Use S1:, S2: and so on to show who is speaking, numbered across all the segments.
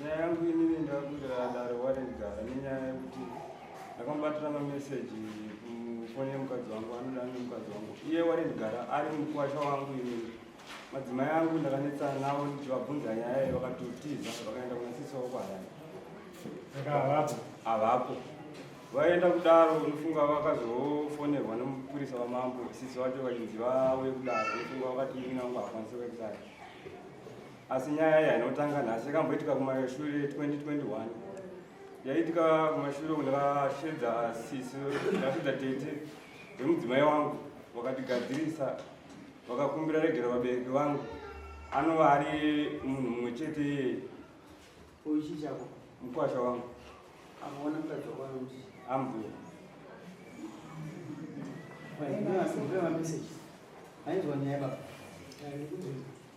S1: nyaya yangu inini ndakudira dare warendigara nenyaya yekuti ndakamubatira mameseji kufoni yemukadzi wangu anoda ne mukadzi wangu iye warendigara ari mukwasha wangu inini madzimai angu ndakanetsana navo ndichivabvunza nyaya iyi vakatotiza vakaenda kuna sisi wavo kwaharare havapo vaenda kudaro unofunga vakazofonerwa nemupurisa wamambo sisi vacho vachinzi vauye kudaro unofunga vakati ini nangu hakwanisi kuekudaro asi nyaya iya inotanga nhasi yakamboitika kumashure 2021 yaitika kumashure kundakashedza sisi ndakashedza tete vemudzimai wangu vakatigadzirisa vakakumbira regera vabereki vangu anova ari munhu mumwe chete iyeye
S2: uchichako mukwasha
S1: wangu amaona
S2: mukadzi wakwanoti ambuya ainzwa nyaya baba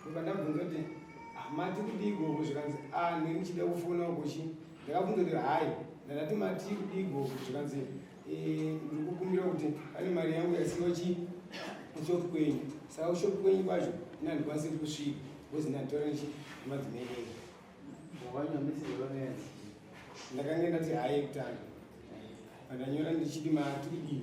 S3: ndobva ndabvunza kuti hamati ah, kudii gogo zvikanzi a ah, ndiri ndichida kufona kuchi ndakabvunza kuti hayi ndandati mati kudii gogo zvikanzi eh, ndiri kukumbira kuti pane mari yangu yasiwa chi kushop kwenyu saka kushop kwenyu kwacho ina ndikwanisiri kusvika bcoz ndatora chi madzimai ndakange ndati hayi kutanga pandanyora ndichiti mati kudii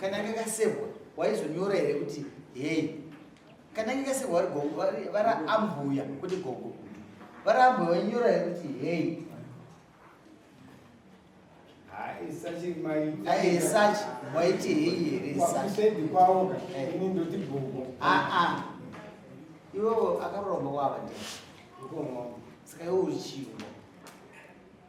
S2: kana anga kasevwa waizonyora here kuti hei kana anga kasevwa vari gogo vari ambuya kuti gogo vari ambuya wainyora here kuti hei aesachi waiti hei here
S3: aa
S2: iwewo akaroromba kwava ndi saka iwe uchiwo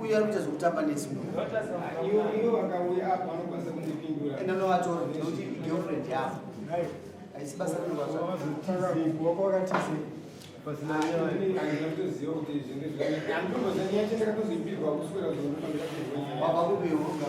S2: uyo ari kuita zvekutamba nesi
S3: munhuenanoatornekuti
S2: girlfriend yavo haisi basa
S3: rinovaavakubeonga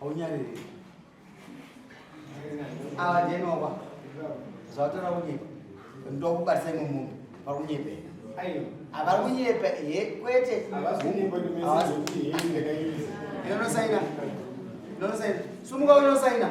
S4: haunyariri
S2: ava ndinowa zvavatora kunyepa ndokubatisa imwe munhu vari kunyepe havari kunyepe he kwete inonosaina inonosaina sumuka unosaina